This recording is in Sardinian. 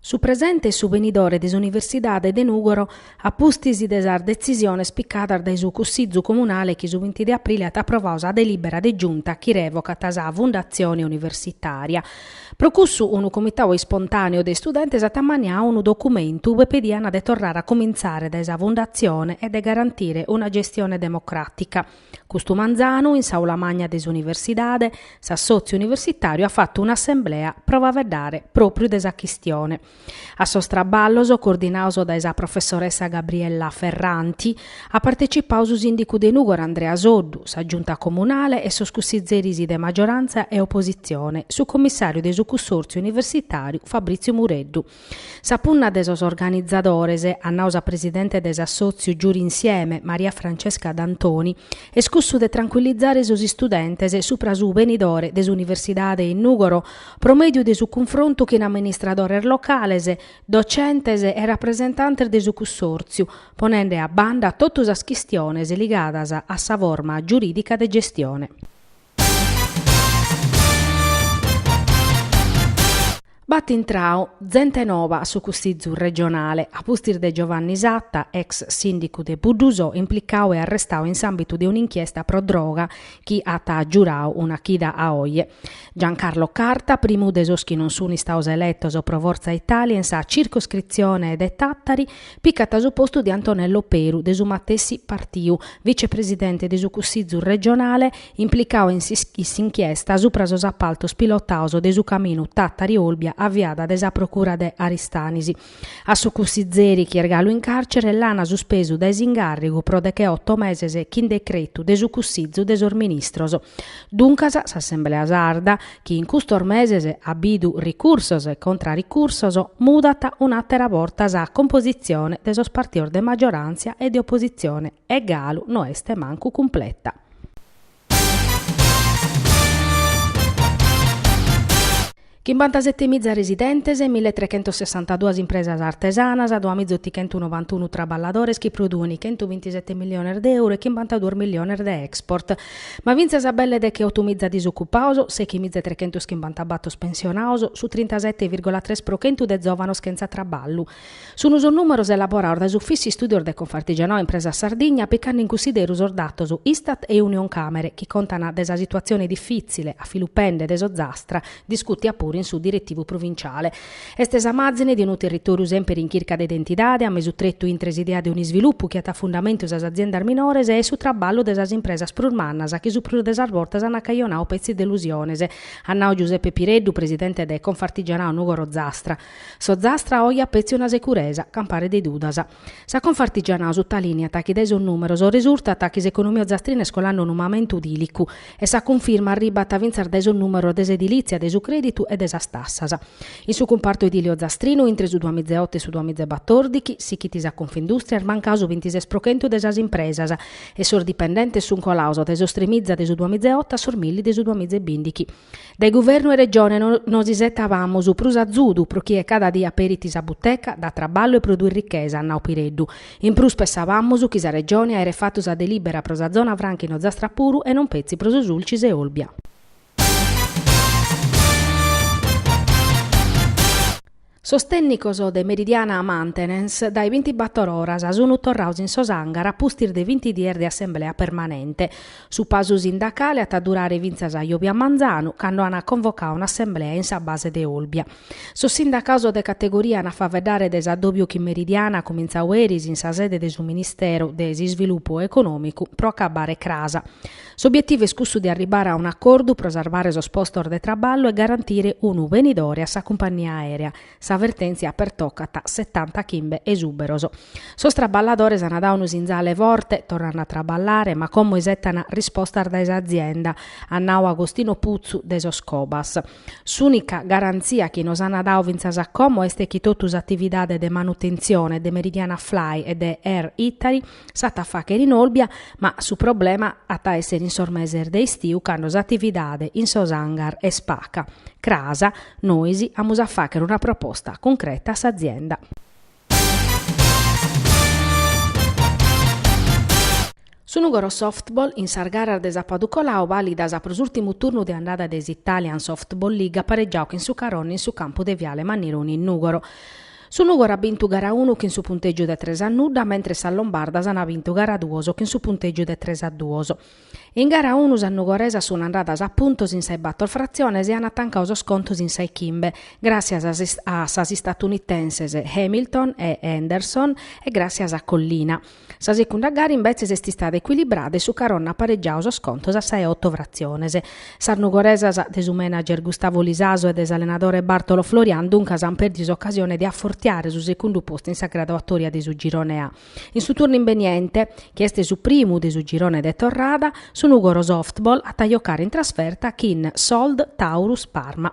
Su presente e su benidore de s'Universidade de Nùgoro a pustis de sas detzisiones picadas dae su Cussizu Comunale chi su binti de aprile at aprovadu sa delìbera de Giunta chi revocat sa Fundatzione Universitària. Pro cussu unu comitadu ispontàneu de istudentes at ammaniadu unu documentu ue pediant de torrare a comintzare dae sa fundatzione e de garantire una gestione democràtica. Custu manzanu, in s'Aula Magna de s'Universidade, s'Assòtziu Universitàriu at fatu un'assemblea pro faeddare pròpriu de sa chistione. A sos traballos, coordinados dae sa professoressa Gabriella Ferranti, at partecipadu su sìndicu de Nùgoro Andrea Soddu, sa Giunta comunale e sos cussizzeris de magiorantza e opositzione, su commissàriu de su Cussòrtziu Universitàriu Fabriziu Mureddu, Sa punna de sos organizadores, at nau sa presidente de s'assòtziu Giuri Insieme, Maria Francesca D'Antoni, est cussu de trancuillizare sos istudentes subra su benidore de s'universidade in Nùgoro pro mèdiu de su cunfrontu chin amministradores locales, docentes e rapresentantes de su cussòrtziu, ponende a banda totu sas chistiones ligadas a sa forma giurìdica de gestione. B'at intrau zente noba a su Cussizu regionale, a pustis de Giovanni Satta, ex sìndicu de Buddusò, implicau e arrestau in s'àmbitu de un'inchiesta pro droga chi at giurau una chida a oje. Giancarlo Carta, primu de sos chi non sunt istados eletos pro Forza Italia in sa circoscritzione de Tàtari, Picat su postu de Antonello Peru, de su matessi partiu, vicepresidente de su Cussizu regionale, implicau in s'inchiesta supra sos apaltos pilotados de su caminu Tàtari-Olbia aviada de sa procura de Aristanis. A su cussizeri chi est galu in càrcere l'ana suspesu dae s'incàrrigu pro decheoto meses chin decretu de su Cussizu de sos ministros. Duncas s'Assemblea Sarda chi in custos meses at bidu ricursos e contra-ricursos, mudat un'àtera borta sa compositzione de sos partidos de maggioràntzia e de opositzione e galu no est mancu cumpleta. Chimbantasete miza residentes, mille e trechentos sessantaduas impresas artesanas, duas miza otichentu novantunu traballadores chi produent chentu bintisete milliones de euro e chimbantaduos milliones de export, Ma fintzas a belle decheoto miza disocupados, sechi miza e trechentus chimbanta bator pensionados, su trintasete virgola tres pro chentu de zòvanos chentza traballu. Sun sos nùmeros elaborados dae s'Ufìssiu Istùdios de Confartigianau Impresas Sardigna picande in cunsideru sos datos Istat e Unioncamere chi contan de sa situatzione difìtzile, a filu pende de s'Ozastra, discùtia puru in su Diretivu Provinciale. Est sa màzine de unu territòriu sèmpiri in chirca de identidade, a mesu tretu intre s'idea de un'isvilupu chi at a fundamentu sas aziendas minores e su traballu de sas impresas prus mannas chi su prus de sas bortas ant cajonau petzi delusiones, at nau Giuseppe Pireddu, presidente de Confartigianau Nùgoro Ozastra. S'Ozastra oi at petzi una securesa, campare de dudas. Sa Confartigianau sutalìniat chi dae sos nùmeros resurtat chi s'economia ozastrina est colende unu mamentu dìlicu e sa cunfirma arribat fintzas dae sos nùmeros de s'edilìtzia, de su crèditu e de sas tassas. In su cumpartu edile ozastrinu, intre su duamizeoto e su duamizebatordighi, sighit sa Confindùstria, est mancau su bintises pro chentu de sas impresas e sos dipendentes sunt colados dae sos tremiza de su duamizeoto a sos milli de su duamizebìndighi. Dae Guvernu e Regione nos isetabamus prus azudu pro chie cada die aperit sa buteca, dat traballu e produit richesa, at nau Pireddu. In prus pessabamus chi sa Regione aeret fatu sa delibera pro sa zona franca in Ozastra puru e non petzi pro su Sulcis e Olbia. Sos tènnicos de Meridiana Maintenance dae bintibator oras sun torrados in sos hangar a pustis de vinti dies de assemblea permanente. Su pasu sindacale at a durare fintzas a jòbia manzanu, cando an convocadu un'assemblea in sa base de Olbia. Sos sindacados de categoria an a faeddare de s'addòbiu chi Meridiana at comintzadu eris in sa sede de su Ministèru de s'Isvilupu Econòmicu pro acabare cras. S'obietivu est cussu de arribare a un'acordu pro sarvare sos postos de traballu e garantire unu benidore a sa cumpagnia aèrea, sa vertèntzia pertocat setantachimbe esùberos. Sos traballadores ant dadu unu sinzale forte, torrende a traballare, ma como isettan rispostas dae s'azienda, at nadu Agostino Putzu de sos Cobas. S'ùnica garantzia chi nos ant dadu fintzas a como est chi totu s'atividade de manutentzione de Meridiana Fly e de Air Italy, S'at a fàghere in Olbia, ma su problema at a èssere in sos meses de istiu cando s'atividade in sos hangar est paca. Cras, Nois amus a fàghere una proposta cuncreta a s'azienda. Su Nùgoro Softball in sas garas de sapadu coladu vàlidas pro s'ùrtimu turnu de andada de s'Italian Softball League at paregiadu chin su Caronno in su campu de Viale Mannironi in Nùgoro. Su Nùgoro at bintu gara unu chin su puntègiu de tres a nudda, mentres sas lombardas ant bintu gara duos chin su puntègiu de tres a duos. In gara unu sas nugoresas sunt andadas a puntos in sa 'e bator fratziones e ant tancadu sos contos in sa 'e chimbe, gràssias a sas istatunitenses Hamilton e Henderson e gràssias a Collina. Sa secunda gara imbetzes est istada ecuilibrada e su Caronna at paregiadu sos contos a sa 'e oto fratziones. Sas nugoresas de su manager Gustavo Lisaso e de s'allenadore Bartolo Florian duncas ant pèrdidu s'ocasione de afortiare su segundu postu in sa graduatoria de su Girone A. In su turnu imbeniente, chi est su primu de su girone de torrada, su Nugoro Softball at a jocare in trasferta chin s'Old Taurus Parma.